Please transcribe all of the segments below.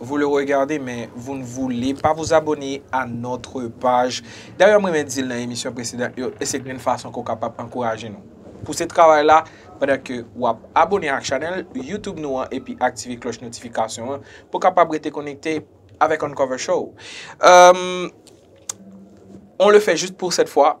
Vous le regardez men vous ne voulez pas vous abonner à notre page. Dayè m renmen di l nan emisyon presedan yo e se grenn fason ke w kapab ankouraje nou. Pouse travay la pandan ke w ap abone ak chanèl YouTube nou an epi aktive klòch notifikasyon an pou w kapab rete konekte avèk Uncover Show. Euh, on le fait juste pour cette fois.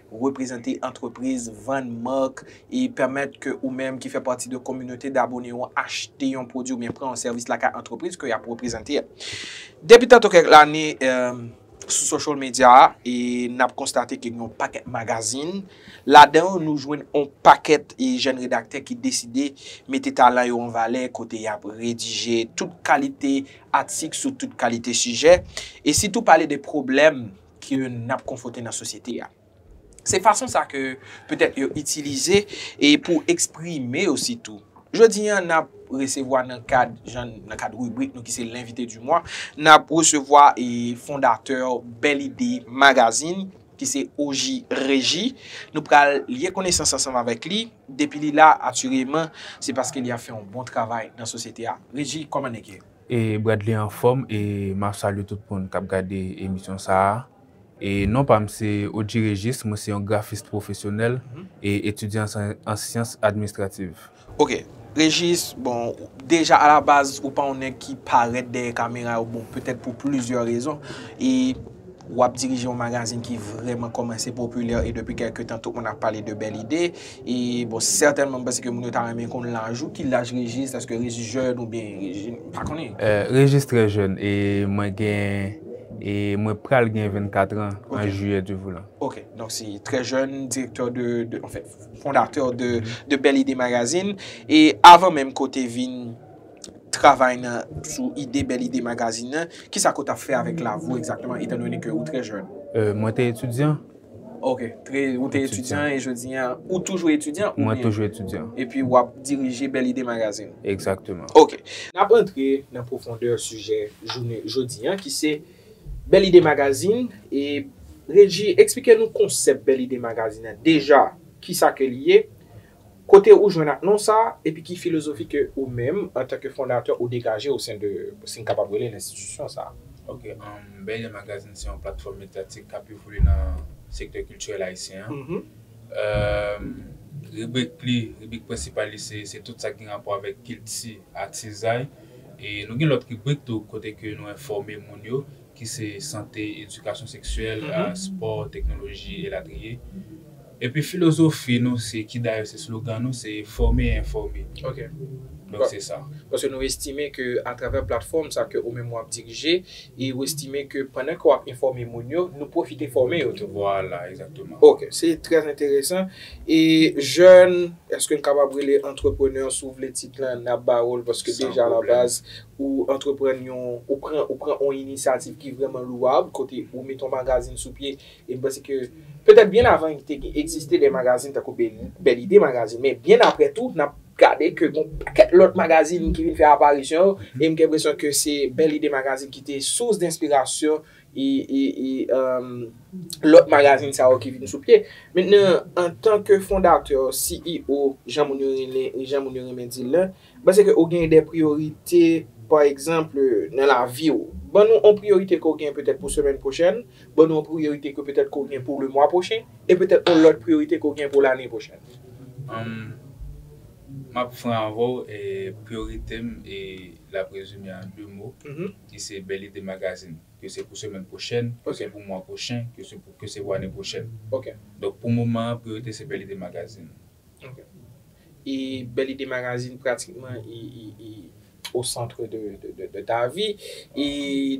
reprezante antrepriz, vann mark, e pèmèt ke ou menm ki fè pati de kominote d'abone ou an achte yon pwodwi oubyen pran yon sèvis lakay antrepriz ke y'ap reprezante a. Depi tantou kèk lane sou social media e n'ap konstate ke gen yon pakèt magazin, ladan yo nou jwenn yon pakèt jèn redaktè ki deside mete talan yo an valè kote y'ap redije tout kalite atik sou tout kalite sijè e sitou pale de pwoblèm ke n ap konfwonte nan sosyete a. Se fason sa ke petèt yo itilize e pou eksprime yo sitou. Jodi an n ap resevwa nan kad jan, nan kad ribrik nou ki se L'invité du mois, n ap resevwa e fondatè Belle Idee Magazine ki se OJ Reji. Nou pral lye konesans ansanm avèk li. Depi li la atireman se paske li ap fè yon bon travay nan sosyete a. Reji, kòman nèg yo ye? E Bradley anfom e map salye tout moun kap gade emisyon sa a e non pam se Odji Régis mwen se yon grafist pwofesyonèl e etidyan an syans administrativ. Ok Régis bon deja alabaz ou pa yon nèg ki parèt dèyè kamera yo bon petèt pou plizyè rezon e W ap dirije yon magazin ki vreman komanse popilè e depi kelke tan tout moun ap pale de bèl ide. E bon sètènman m panse ke moun yo ta renmen konn laj ou. Ki laj Régis? Eske Régis jèn ou byen Régis m pa konnen. Régis trè jèn e mwen gen e mwen pral gen 24 tran an jiyè Dye voulan. Ok donk se trè jèn direktè de de anfen fondatè de bèl ide magazin. E avan menm ke w te vin. travay nan sou ide bèl ide magazin nan, kisa ke w t ap fè avèk lavi w egzakteman etan done ke ou trè jèn? Mwen te etidyan. Ok, ou te etidyan e jodi an ou toujou etidyan oubyen? Mwen toujou etidyan. Epi w ap dirije bèl ide magazin? Egzakteman. Ok, n ap rantre nan pwofondè sijè jounen jodi an ki se bèl ide magazin e Reji eksplike nou konsèp bèl ide magazin nan deja kisa ke li ye? Kote ou jwenn ak non sa, epi ki filozofi ke ou menm, antanke fondatè, ou degaje osen de, si n kapab rele l, enstitisyon sa a? Ok, Bèlè Magazin se yon platfòm medyatik k ap evolye nan sektè kiltirèl ayisyen an. Ribrik li, ribrik prensipal li se tout sa ki gen rapò avèk kilti, atizay. E nou gen lòt ribrik tou kote ke nou enfòme moun yo ki se sante, edikasyon seksyèl, spò, teknoloji, elatriye. Epi filozofi nou se, ki dayè se slogan nou, se fòme e enfòme. Ok. Donk se sa. Paske nou estime ke atravè platfòm sa ke ou menm wap dirije, e ou estime ke pandan ke wap enfòme moun yo, nou pwofite fòme yo tou. Vwala, egzakteman. Ok, se trè enteresan. E jèn, eske n kapab rele antreprenè, si w vle tit lan, nap ba ou l, paske deja la baz, Ou antreprann yon, ou pran, ou pran yon inisyativ ki vrèman louwab, kote ou met yon magazin sou pye, e m panse ke, petèt byen avan li te egziste de magazin tankou Bèl Ide Magazin, men byen aprè tou, n ap gade ke gen yon pakèt lòt magazin ki vin fè aparisyon yo, e m gen enpresyon ke se Bèl Ide Magazin ki te sous denspirasyon e, e, e, lòt magazin sa yo ki vin sou pye. Mentnan, antanke fondatè, CEO, jan moun yo rele, jan moun yo renmen di l lan, M panse ke ou gen de priyorite, pa egzanp, nan lavi ou. Ban nou on priyorite ke ou gen petèt pou semèn pwochèn, ban nou on priyorite ke petèt ke ou gen pou lemwa pwochen, e petèt on lòt priyorite ke ou gen pou lane pwochèn. Humm, m ap fran avè w, priyorite m l ap rezime an de mo, ki se Belle Idee Magazine. Ke se pou semèn pwochèn, ke se pou mwa pwochen, ke se pou ane pwochèn. Donk pou moman an, priyorite se Belle Idee Magazine. Ok. E bèl ide magazine pratikman e au centre de ta vi. E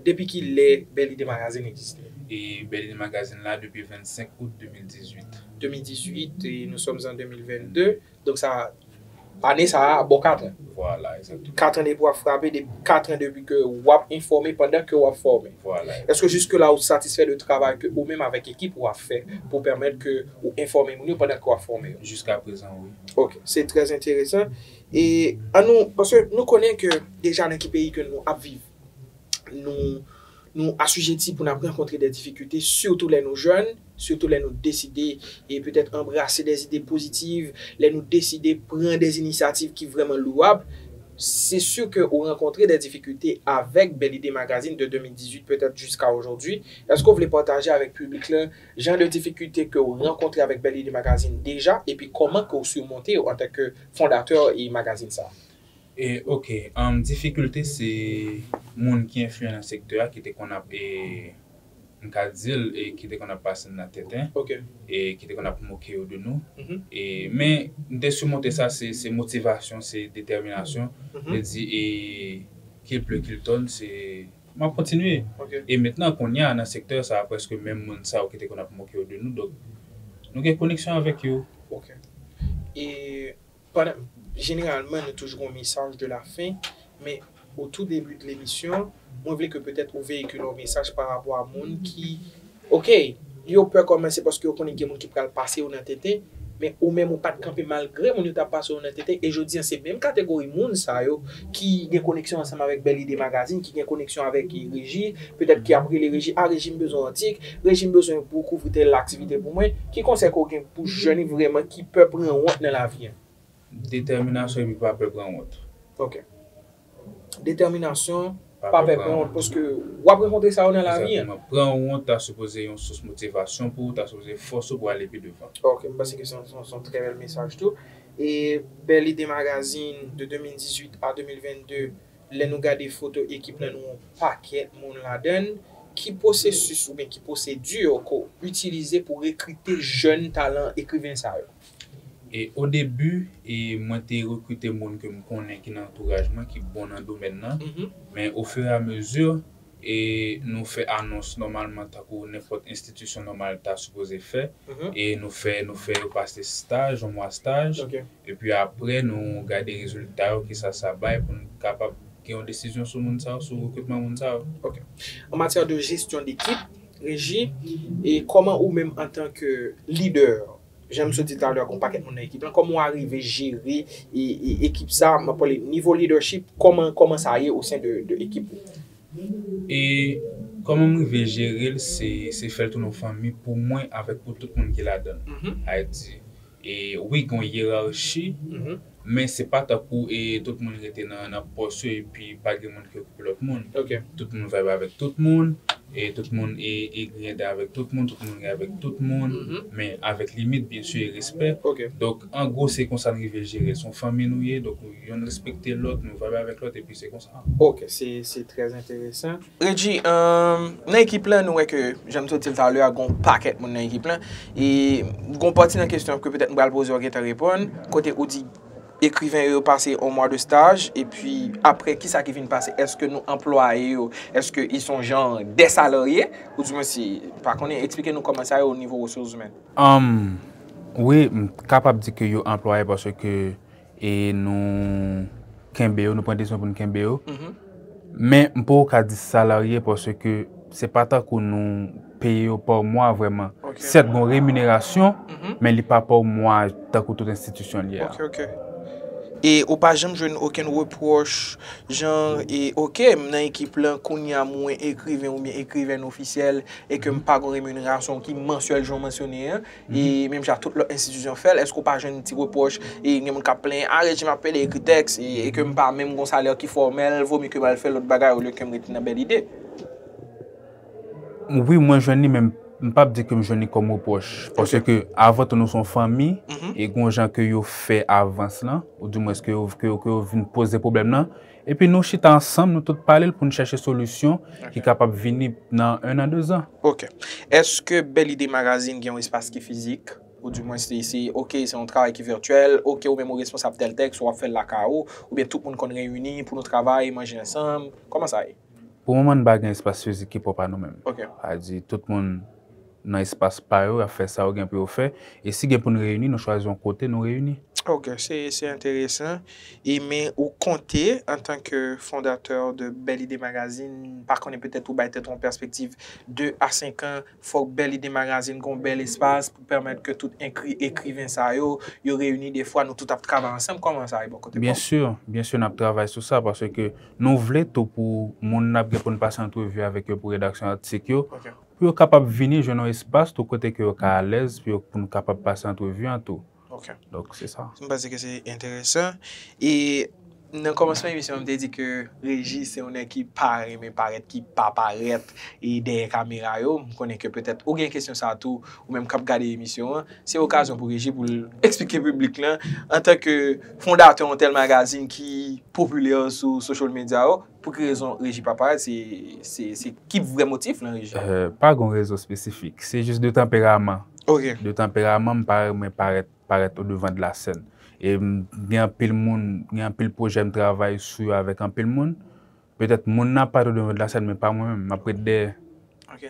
depi ki lè bèl ide magazine egziste? E bèl ide magazine la depi 25 out 2018. 2018 e nou sòm an 2022. Donk sa ane sa a bon 4 an. Vwala egzakteman. 4 an depi wap frape, 4 an depi ke wap enfòme pandan ke wap fòme. Vwala. Eske jiske la ou satisfè de travay ke ou menm avèk ekip ou a fè pou pèmèt ke. Ou enfòme moun yo pandan ke wap fòme yo? Jiska prezan wi. Ok, se trè enteresan. E an nou, paske nou konnen ke deja nan ki peyi ke nou ap viv, nou nou asijeti pou n ap rankontre dè difikilte sitou lè nou jèn, sitou lè nou deside e petèt anbrase dè zide pozitiv, lè nou deside pran dè inisyativ ki vrèman louwab. Se si ke ou rankontre dè difikilte avèk Belle Idee Magazine de 2018 petèt jiska ojòdwi. Èske ou vle pataje avèk piblik la Jan de difikilte ke w rankontre avèk Belle Idee Magazine deja epi kòman ke w surmonte yo antanke fondatè e magazine sa a? Ok, difikilte se moun ki enfliyan nan sektè a ki te konn ap e m ka di l e ki te konn ap pase n nan tenten e ki te konn ap moke yo de nou e men m te surmonte sa se motivasyon se detèminasyon vle di e kil ple kil tonn se M ap kontinye. E mentnan, kounye a, nan sektè sa a, prèske menm moun sa yo ki te konn ap moke yo de nou, donk, nou gen koneksyon avèk yo. Ok. E pandan, jeneralman nou toujou gen yon mesaj de la fen, men au tout début de l'émission, mwen vle ke petèt ou veyikile yon mesaj parapò a moun ki Ok, yo pè kòmè se paske yo konnen gen moun ki pral pase yo nan tenten, men ou menm ou pat kanpe malgre moun yo ta pase w nan tenten e jodi an se menm kategori moun sa yo ki gen koneksyon ansanm avèk Bèl Ide Magazine, ki gen koneksyon avèk Reji, petèt ki ap rele Reji, ah Reji m bezwen yon atik, Reji m bezwen pou w kouvri tèl aktivite pou mwen, ki konsèy ke w gen pou jèn vrèman ki pè pran wont nan lavi an? Detèminasyon epi pa pè pran wont. Ok. Detèminasyon, pa pè pran wont paske wap rankontre sa yo nan lavi. Egzakteman, pran wont ta sipoze yon sous motivasyon pou ou, ta sipoze fòs ou pou ale pi devan. Ok, m panse ke se yon trè bèl mesaj tou. E bèl ide magazin de 2018 a 2022, lè nou gade foto ekip lan nou wè yon pakèt moun ladann, ki pwosesis oubyen ki pwosedi yo ke w itilize pou rekrite jèn talan ekriven sa yo? O debi mwen te rekrite moun ke m konnen ki nan antouraj mwen ki bon nan domèn nan, men o fur et à mesure e nou fè anons nòmalman tankou nenpòt enstitisyon nòmal ta sipoze fè e nou fè nou fè yo pase staj, yon mwa staj epi aprè nou gade rezilta yo kisa sa bay pou nou kapab gen yon desizyon sou moun sa yo, sou rekrutman moun sa yo. Ok. An matyè de jesyon dekip, Reji, E kòman ou menm antan ke lidè, jan misye di talè gon pakèt moun nan ekip lan, kòman ou arive jere ekip sa, map pale nivo leadership, kòman kòman sa ye osen de ekip ou? E kòman m rive jere l se fè l tounen yon fanmi pou mwen avèk pou tout moun ki ladan l. Ayiti. E wi gen yon yerarchi, men se pa tankou e tout moun rete nan pòs yo epi pa gen moun ki okipe lòt moun. Tout moun vibe avèk tout moun, e tout moun e grinyade avèk tout moun, tout moun ri avèk tout moun, men avèk limit byen si e respè. Donk an gwo se konsa n rive jere l. Se yon fanmi nou ye, donk yonn respekte lòt, nou vibe avèk lòt epi se konsa. Ok, se trè enteresan. Regi, Nan ekip la nou wè ke jan m sot di l talè a gen yon pakèt moun nan ekip lan e gen yon pati nan kesyon ke petèt m pral poze w gentan reponn kote ou di ekriven yo yo pase yon mwa de staj epi aprè kisa ki vin pase eske nou anplwaye yo eske yo son jan de salarye ou di mwen si m pa konnen eksplike nou kòman sa ye o nivo resous imèn. Wi m kapab di ke yo anplwaye paske E nou kenbe yo, nou pran desizyon pou nou kenbe yo. Men m poko ka di salarye paske se pa tankou nou peye yo pa mwa vrèman. Sèt gon reminerasyon, men li pa pa mwa tankou tout enstitisyon l ye a. Ok, ok. E ou pa janm jwenn okenn repwòch jan e ok m nan ekip lan kounye a mwen ekriven oubyen ekrivèn ofisyèl e ke m pa gon reminerasyon ki mansyèl jan w mansyone an, E menm jan tout lòt enstitisyon fè l, èske ou pa jwenn ti repwòch e gen moun k ap plenyen, a rejim ap pede ekri tèks e ke m pa menm gen yon salè ki fòmèl, vo mye ke m al fè lòt bagay olye ke m rete nan bèl ide? Wi mwen jwenn li men m pa p di ke m jwenn li kòm repwòch paske ke avan tou nou se yon fanmi e gen yon jan ke yo fè avans lan ou dimwens ke yo vin poze pwoblèm lan Epi nou chita ansanm, nou tout pale l pou n chèche solisyon ki kapab vini nan ennan dezan. Ok. Eske Bèl Ide Magazine gen yon espas ki fizik? Ou di mwens li se ok se yon travay ki vètyèl, ok ou menm ou responsab tèl tèks, ou ap fè l lakay ou, oubyen tout moun konn reyini pou nou travay, manje ansanm? Kòman sa ye? Pou moman n pa gen espas fizik ki pwòp a nou menm. Ok. Sa vle di tout moun. nan espas pa yo, y ap fè sa yo gen pou yo fè. E si gen pou n reyini, nou chwazi yon kote nou reyini. Ok, se enteresan. E men ou konte antanke fondatè de Belle Idee Magazine, m pa konnen petèt ou bay tèt ou yon pèspektiv 2 a 5 an, fòk Belle Idee Magazine gon bèl espas pou pèmèt ke tout ekriven sa yo, yo reyini de fwa nou tout ap travay ansanm. Kòman sa ye bò kote pa w? Byen si, byen si n ap travay sou sa paske nou vle tou pou moun n ap gen pou n pase antrevi avèk yo pou redaksyon atik yo, Pou yo kapab vini jwenn yon espas tou kote ke yo ka alèz pou yo pou nou kapab pase antrevi an tou. Ok. Donk se sa. M panse ke se enteresan. E nan kòmansman emisyon an m te di ke Regi se yon nèg ki pa renmen parèt, ki pa parèt e dèyè kamera yo. M konnen ke petèt ou gen kesyon sa a tou ou menm k ap gade emisyon an. Se okazyon pou Regi pou l eksplike piblik lan antanke fondatè yon tèl magazin ki popilè sou social media yo, Pou ki rezon reji pa parèt? Se ki vrè motif lan reji? Pa gen yon rezon espesifik. Se jis de tanperaman. Ok. De tanperaman m pa renmen parèt, parèt o devan de la sèn. E m gen anpil moun, gen anpil pwojè m travay sou yo avèk anpil moun. Petèt moun nan ap parèt o devan de la sèn men pa mwen menm. M ap ret dèyè.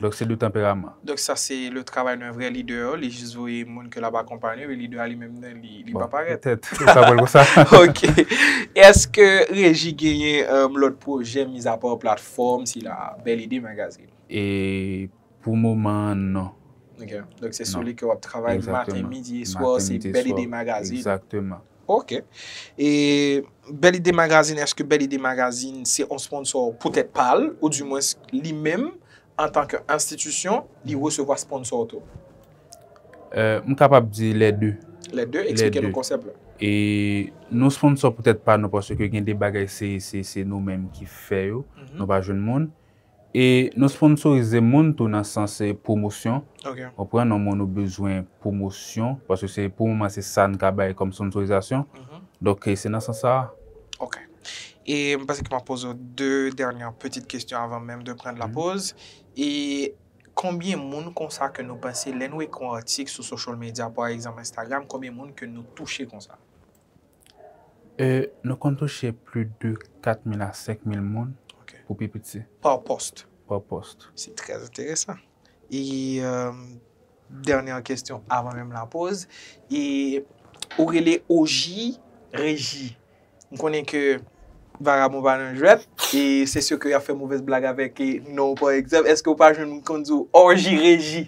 Donk se 2 tanperaman. Donk sa se le travay d'un vrai leader, li jis voye moun ke lap akonpanye, men leader a li menm nan li, li pa parèt. Bon, petèt, ou ka wèl konsa. Ok. Eske Reji genyen lòt pwojè mizapa platfòm sila a, Bèl Ide Magazine? E, pou moman an, non. Ok. Donk se sou li ke wap travay maten, midi e swa, se Bèl Ide Magazine. Exactement. Ok e bèl ide magazine eske bèl ide magazine se yon sponsor pou tèt pal ou di mwens li menm antan ke enstitisyon li resevwa sponsor tou? M kapab di lè 2. Lè 2, eksplike nou konsèp la. E nou sponsor pou tèt pa nou paske gen de bagay se nou menm ki fè yo nou pa jwenn moun. E nou sponsorize moun tou nan sans pwomosyon. Ou pran yon moun ou bezwen pwomosyon, paske se pou moman se sa n ka bay kòm sponsorizasyon. Donk se nan sans sa a. Ok. E m panse ke m ap poze w de dènye pitit kesyon avan menm de pran la poz. E konbyen moun konsa ke nou panse lè nou ekri yon atik sou social media pa egzanp Instagram, konbyen moun ke nou touche konsa? Nou konn touche pli de 4 mil a 5 mil moun pou pi piti. Pa pòst. Pa pòst. Se trè enteresan. E dènyè kestyon avan menm la poz, e ou rele Oji Reji. M konnen ke vagabon pa nan jwèt, e se sè ke y ap fè movèz blag avèk non w pa egzanp, èske w pa jwenn moun k konn di w Oji Reji?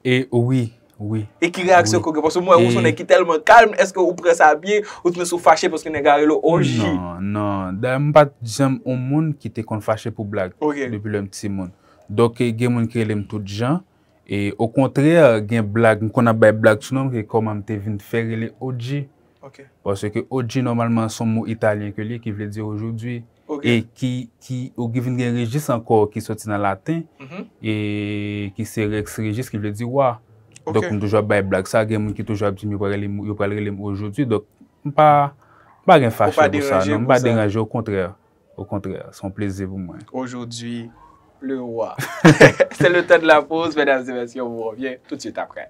E wi, Wi. E ki reyaksyon ke ou gen? Paske mwen wè ou son nèg ki tèlman kalm, eske ou pran sa byen? Ou t menm si ou fache paske nèg la rele w OG? Non, non. Dayè m pat janm on moun ki te konn fache pou blag. Ok. Depi lè m timoun. Donk gen moun ki rele m tout jan. E okontrè gen blag, m konn ap bay blag sou non m ke kòman m te vin fè rele OG. Ok. Paske OG nòmalman son mo italyen ke l ye ki vle di aujourd'hui. e ki ki ou ki vin gen Regis ankò ki soti nan laten e ki se Rex Regis ki vle di wa donk m toujou ap bay blag sa gen moun ki toujou ap di m yo pral yo pral rele m ojodi donk m pa m pa gen fache pou sa non m pa deranje okontrè okontrè se yon plezi pou mwen ojodi le wa se le tan de la poz medam e mesye m revyen tout swit aprè.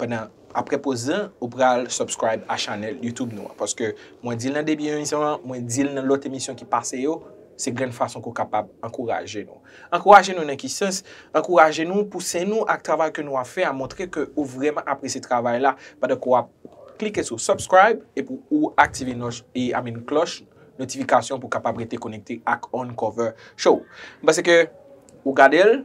pandan aprè poz lan ou pral subscribe a channel YouTube nou an paske mwen dil nan debi emisyon an mwen dil nan lòt emisyon ki pase yo se grenn fason ke w kapab ankouraje nou ankouraje nou nan ki sans ankouraje nou pouse nou ak travay ke nou ap fè a montre ke ou vrèman apresye travay la pandan ke w ap klike sou subscribe epi ou aktive nòch e a min klòch notifikasyon pou kapab rete konekte ak Uncover Show m pase ke ou gade l.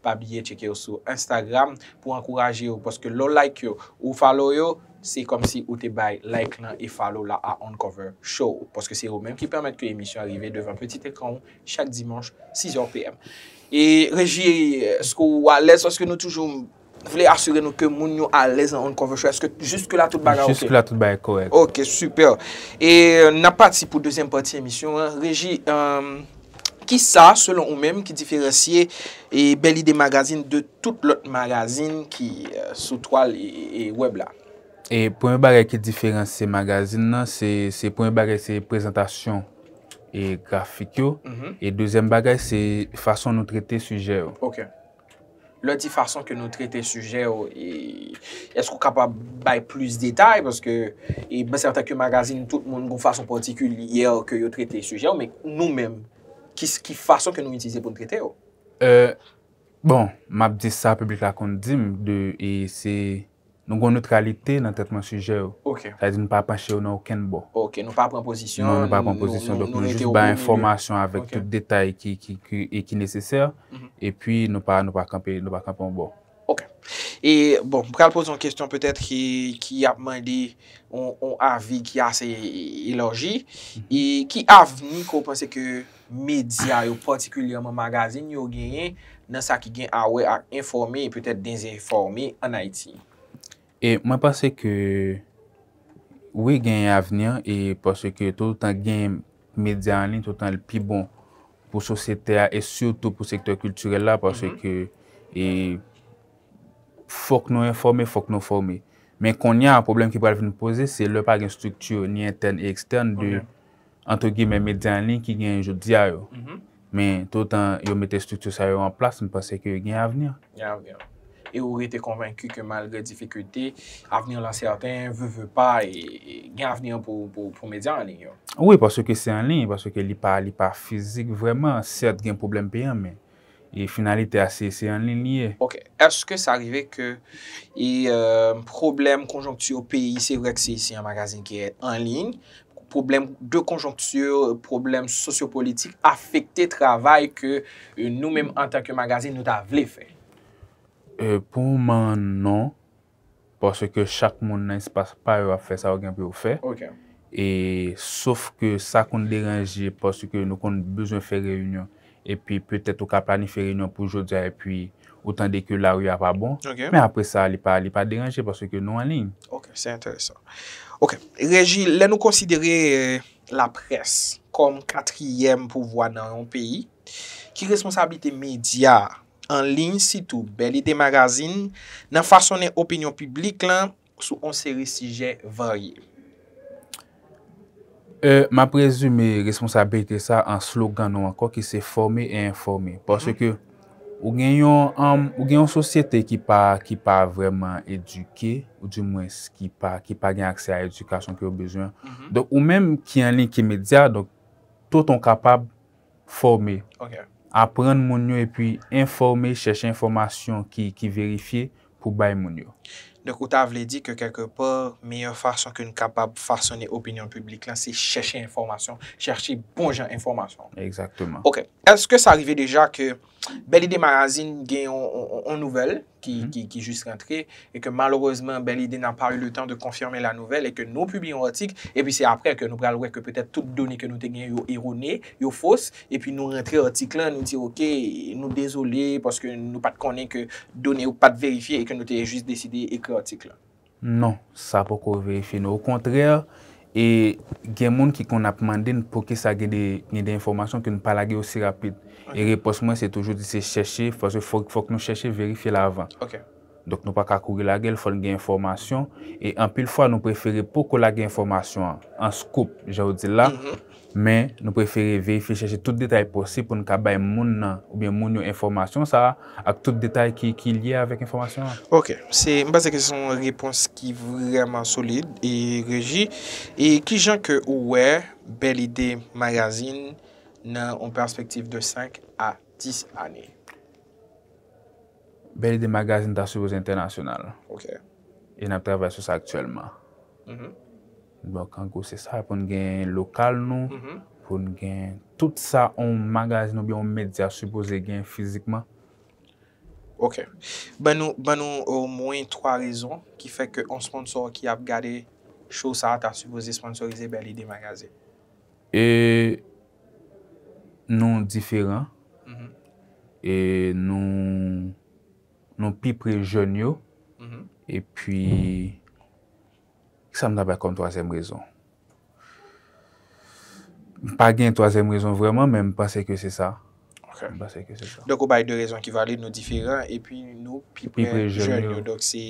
Pa bliye tcheke yo sou Instagram pou w ankouraje yo paske lè w like yo ou w follow yo se kòmsi ou te bay like lan e follow la a Uncover Show paske se yo menm ki pèmèt ke emisyon an rive devan pitit ekran w chak dimanch 6 heures PM. E Reji eske w alèz paske nou toujou vle asire nou ke moun yo alèz nan Uncover Show eske jiske la tout bagay ok? Jiske la tout bagay kòrèk. Ok super. E nap pati pou dezyèm pati emisyon an. Reji Kisa, selon ou menm, ki diferansye Belle Idee Magazine de tout lòt magazin ki sou twal wèb la? Premye bagay ki diferansye magazin nan, se premye bagay se prezantasyon grafik yo, e dezyèm bagay se fason nou trete sijè yo. Lè w di fason ke nou trete sijè yo, èske ou kapab bay plis detay? Paske mwen sèten ke magazin tout moun gon fason patikilyè ke yo trete sijè yo, men nou menm, ki fason ke nou itilize pou nou trete yo? Bon, m ap di sa piblik la konn di m, de se Nou gen yon neutralite nan tretman sijè yo. Ok. Sa vle di nou pa panche yo nan okenn bò. Ok, nou pa pran pozisyon. Non, nou pa pran pozisyon. Donk nou jis bay enfòmasyon avèk tout detay ki nesesè, epi nou pa kanpe yon bò. Ok. E, bon, m pral poze yon kesyon petèt ki ap mande yon avi ki ase elòji. E, ki avni ke w panse ke medya yo, patikilyèman magazin yo, genyen nan sa ki gen awè ak enfòme e petèt dezenfòme ann Ayiti? E mwen panse ke wi genyen avni e paske toutotan genyen medya anliy toutotan li pi bon pou sosyete a e sitou pou sektè kiltirèl la paske e fòk nou enfòme, fòk nou fòme. Men konnya pwoblèm ki pral vin poze se lè pa gen estrikti ni entèn ni ekstèn de. antre gimè, medya an liy ki genyen jodi a yo. Men, tout otan yo mete estrikti sa yo an plas, m panse ke gen avni. Gen avni. E ou rete konvenki ke malgre difikilte, avni lan sèten, ve ve pa, gen avni pou medya an liy yo? Wi, paske se an liy, paske li pa fizik vreman. Sèt gen pwoblèm peyan, men E finalite a se se anliy li ye. Ok eske sa rive ke e pwoblèm konjonkti yo peyi se vre ke se se yon magazin ki anliy pwoblèm de konjonkti pwoblèm sosyo politik afekte travay ke nou menm antanke magazin nou ta vle fè? Pou moman an non. Paske chak moun nan espas pa yo ap fè sa yo gen pou yo fè. E sof ke sa konn deranje paske nou konn bezwen fè reyinyon epi petèt ou ka planifye reyinyon pou jodi a epi ou tande ke lari a pa bon. Men apre sa li pa li pa deranje paske nou anliy. Ok, se enteresan. Ok, Regi, lè nou konsidere laprès kòm katriyèm pouvwa nan yon peyi, ki responsablite medya an liy sitou Bèl Ide Magazin nan fasonnen opinyon piblik lan sou on seri sijè varye. E m ap rezime responsabilite sa an slogan nou ankò ki se fòme e enfòme. Paske ou gen yon sosyete ki pa vrèman edike ou di mwens ki pa gen aksè a edikasyon ke yo bezwen. Donk ou menm ki an liy ki medya donk tout on kapab. Fòme. Aprann moun yo epi enfòme, chèche enfòmasyon ki verifye pou bay moun yo. Donk ou ta vle di ke kèlke pa, meyè fason ke n kapab fasone opinyon piblik lan se chèche enfòmasyon, chèche bon jan enfòmasyon. Egzakteman. Ok. Èske sa rive deja ke Bèlidemagazine gen yon nouvèl ki jis rantre, e ke malerezman Belle Idee n'a pas eu le temps de confirmer la nouvelle, e ke nou pibliye yon atik, e pi se aprè ke nou pral wè ke petèt tout done ke nou te genyen yo erone, yo fos, e pi nou rantre atik lan, nou di ok, nou dezole, paske nou pat konnen ke done yo pat verifye, e ke nou te jis deside ekri atik lan. Non, sa poko verifye non. Okontrè, e gen moun ki konn ap mande n poukisa gen de gen de enfòmasyon ke n pa lage yo si rapid. E repons mwen se toujou di se chèche, paske fòk fòk nou chèche verifye l avan. Donk nou pa ka kouri lage l, fò n gen enfòmasyon. E anpil fwa nou prefere poko lage enfòmasyon an, an scoop, jan yo di l la, Men, nou prefere verifye chèche tout detay posib pou n ka bay moun nan oubyen moun yo enfòmasyon sa a ak tout detay ki ki lye avèk enfòmasyon an. Ok. Se, m panse ke se yon repons ki vrèman solid, e Reji, e kijan ke ou wè Bèl Ide Magazine nan yon pèspektiv de 5 a 10 ane? Bèl Ide Magazine ta sipoze entènasyonal. Ok. E n ap travay sou sa aktyèlman. Bon kankou se sa pou n gen lokal nou, pou n gen tout sa yon magazin oubyen yon medya sipoze gen fizikman. Ok. Ban nou, ban nou omwen 3 rezon ki fè ke yon sponsò ki ap gade show sa ta sipoze sponsorize Belle Idee Magazine. E nou diferan, e nou, nou pi pre jèn yo, epi. Ki sa m ta bay kòm twazyèm rezon? M pa gen twazyèm rezon vrèman, men m panse ke se sa. Ok. M panse ke se sa. Donk ou bay 2 rezon ki valid, nou diferan, epi nou pi pre jèn yo. Donk se,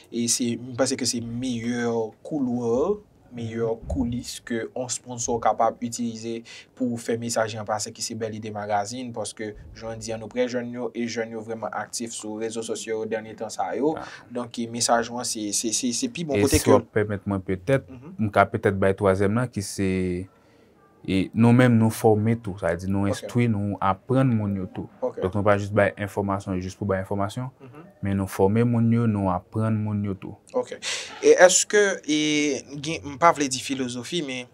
e se, m panse ke se meyè couloir, meyè coulis ke on sponsor kapab itilize pou fè mesaj lan pase ki se Bèlide Magazine paske jounen di an nou prè jèn yo e jèn yo vrèman aktif sou rezo sosyo yo dènye tan sa yo donk ki mesaj ou an se se se pi bon kote ke. E si w ap pèmèt mwen petèt m ka petèt bay twazyèm lan ki se e nou menm nou fòme tou sa vle di nou enstwi nou aprann moun yo tou donk nou pa jis bay enfòmasyon jis pou bay enfòmasyon men nou fòme moun yo nou aprann moun yo tou. Ok e èske e gen m pa vle di filozofi men.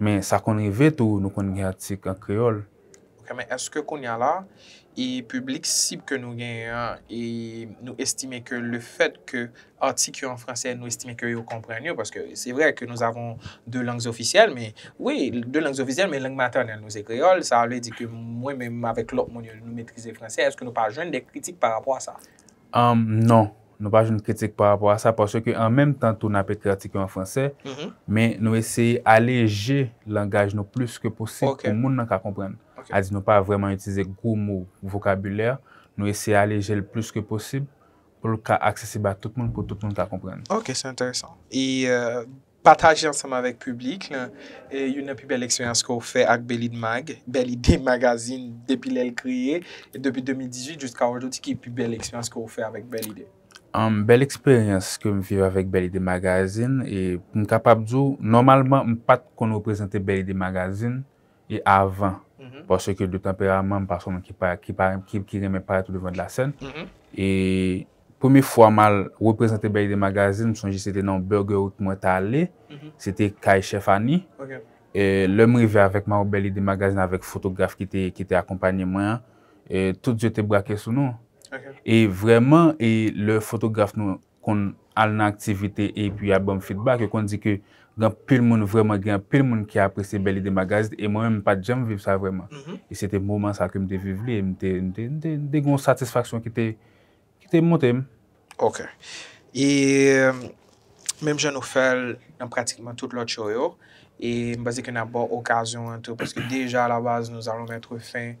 Men sa konn rive tou nou konn gen atik an kreyòl. Ok men èske kounya la e piblik sib ke nou genyen an e nou estime ke le fèt ke atik yo an fransè nou estime ke yo konprann yo paske se vrè ke nous avons deux langues officielles men wi deux langues officielles men lang matènèl nou se kreyòl sa vle di ke mwen menm avèk lòt moun yo nou metrize fransè èske nou pa jwenn de kritik pa rapò a sa? Humm non, nou pa jwenn kritik pa rapò a sa paske ke an menm tan tou n ap ekri atik yo an fransè, men nou eseye aleje langaj nou plis ke posib pou moun nan ka konprann. A di nou pa vrèman itilize gwo mo, vokabilè, nou eseye aleje l plis ke posib pou l ka aksesib a tout moun pou tout moun ka konprann. Ok, se enteresan. E Pataje ansanm avèk piblik lan youn nan pi bèl eksperyans ke w fè ak Belidemag, Bèl Ide Magazin depi lè l kreye depi 2018 jiska ojodi ki pi bèl eksperyans ke w fè avèk Bèl Ide? Bèl eksperyans ke m viv avèk Bèl Ide Magazin, m kapab di w nòmalman m pa t konn reprezante Bèl Ide Magazin e avan parce que de tanperaman m pa son moun ki renmen parèt au devant de la scène e premye fwa m al reprezante Bèlide Magazine m sonje se te nan yon Burgerut mwen t ale se te kay chèf Ani lè m rive avèk mayo Bèlide Magazine avèk fotograf ki te akonpanye mwen an tout zye te brake sou nou e vrèman e lè fotograf nou konn al nan aktivite epi y ap ban m fidbak, yo konn di ke gen anpil moun, vrèman gen anpil moun ki apresye Belle Idee Magazine e mwen menm m pa t janm viv sa vrèman. E se te moman sa ke m te viv li e m te m te m te m te gen yon satisfaksyon ki te ki te monte m. Ok. E menm jan nou fè l nan pratikman tout lòt show yo, e m panse ke n ap ba w okazyon an tou paske deja alabaz nous allons mettre fin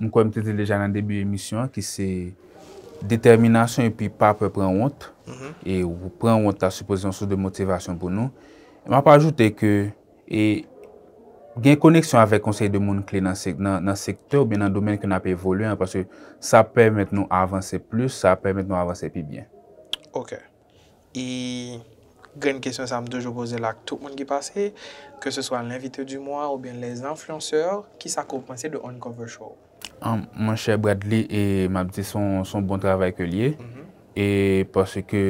M kwè m te di l deja nan debi emisyon an ki se detèminasyon epi pa pè pran wont. E pran wont ta sipoze yon sous de motivasyon pou nou. M ap ajoute ke e gen koneksyon avèk yon seri de moun kle nan sektè oubyen nan domèn ke n ap evolye an paske sa ap pèmèt nou avanse plis, sa ap pèmèt nou avanse pi byen. Ok. E grenn kesyon sa m toujou poze l ak tout moun ki pase, ke se swa l'invité du mois oubyen les influenceurs, kisa ke w panse de Uncover Show? Mon cher Bradley e map di son bon travay ke li ye e paske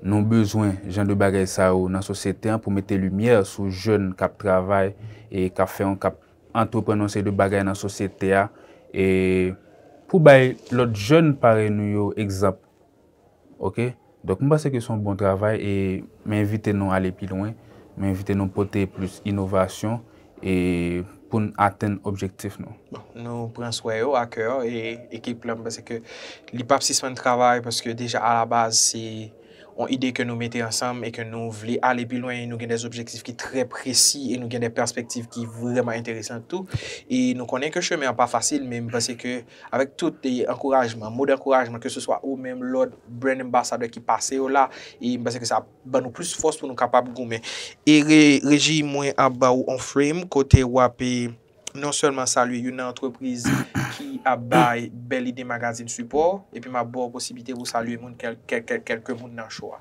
nou bezwen jan de bagay sa yo nan sosyete an pou mete limyè sou jèn kap travay e kap fè yon kap antreprann yon seri de bagay nan sosyete a e pou bay lòt jèn parèy nou yo egzanp. Ok donk m panse ke son bon travay e m envite nou ale pi lwen, m envite nou pote plis inovasyon e pou n atenn objektif nou. Bon nou pran swè yo a kè e ekip la m panse ke li pap sispann travay paske deja a la baz se yon ide ke nou mete ansanm e ke nou vle ale pi lwen e nou gen dè objektif ki trè presi e nou gen dè pèspektiv ki vrèman enteresan tou e nou konnen ke chemen an pa fasil men m panse ke Avèk tout ankourajman, mo dankourajman ke se swa ou menm, lòt Brand Ambassador ki pase yo la, e m panse ke sa ap ban nou plis fòs pou nou kapab goumen. E Reji mwen ap ba ou on frame kote w ap non sèlman salye youn nan antrepriz ki ap bay Belle Idee Magazine sipò, epi m ap ba w posiblite pou w salye moun kèlke moun nan show a.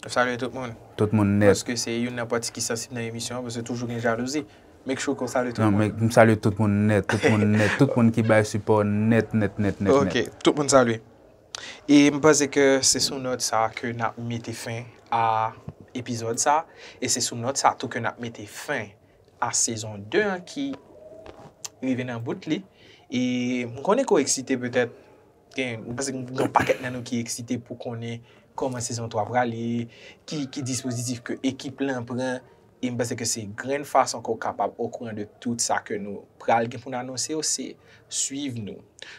Nap salye tout moun. Tout moun nèt. Paske se youn nan pati ki sansib nan emisyon an paske toujou gen jalouzi. Make sure ke w salye tout moun. Non, m salye tout moun nèt, tout moun nèt, tout moun ki bay sipò nèt, nèt, nèt, nèt, nèt. Ok, tout moun salye. E m panse ke se sou nòt sa a ke nap mete fen a epizòd sa a. E se sou nòt sa a tou ke nap mete fen a sezon 2 an ki rive nan bout li. E m konnen ke w eksite petèt. Gen, m panse gen yon pakèt nan nou ki eksite pou konnen kòman sezon 3 prale, ki ki dispozitif ke ekip lan pran, e m panse ke se grenn fason ke w kapab okouran de tout sa ke nou pral gen pou n anonse yo, se swiv nou.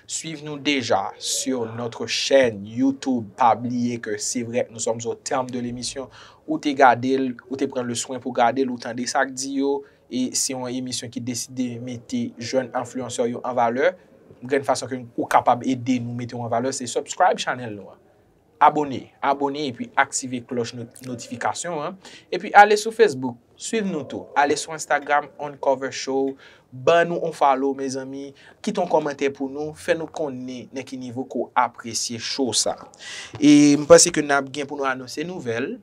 Swiv nou deja sur notre chaine YouTube, pa bliye ke se vrè nous sommes au terme de l'émission, ou te gade l, ou te pran le swen pou gade l, ou tande sa k di yo, E se yon emisyon ki deside mete jèn enfluenceur yo an valè. Grenn fason ke ou kapab ede nou mete ou an valè se subscribe channel nou an. Abone, abone epi aktive klòch notifikasyon an. Epi ale sou Facebook, swiv nou tou. Ale sou Instagram On Cover Show, ban nou on follow mezanmi. Kite yon kòmantè pou nou, fè nou konnen nan ki nivo ke w apresye show sa. E m panse ke n ap gen pou nou anonse nouvèl.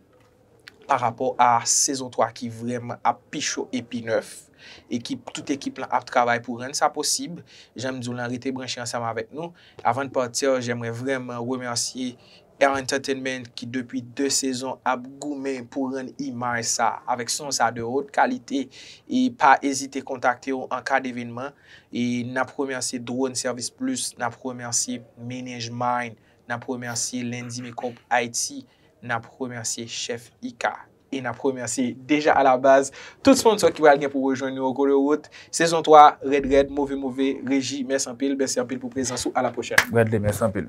pa rapò a sezon 3 ki vrèman ap pi cho e pi nèf. Ekip, tout ekip lan ap travay pou rann sa posib, jan m di w lan rete branche ansanm avèk nou. Avan de partir, j'aimerais vraiment remercier Air Entertainment ki depi 2 sezon ap goumen pou rann imaj sa avèk son sa de haute qualité e pa ezite kontakte w an ka devenman e nap remercier Drone Service Plus, nap remercier Manage Mind Nap remèsye Lundi Makeup Haïti, nap remèsye Chef Ika e nap remèsye deja alabaz tout sponsò ki pral gen pou rejwenn nou yo kou de wout. Sezon 3 rèd rèd, move move. Reji, mèsi anpil, mèsi anpil pou prezans ou. A la pwochèn. Bradley, mèsi anpil.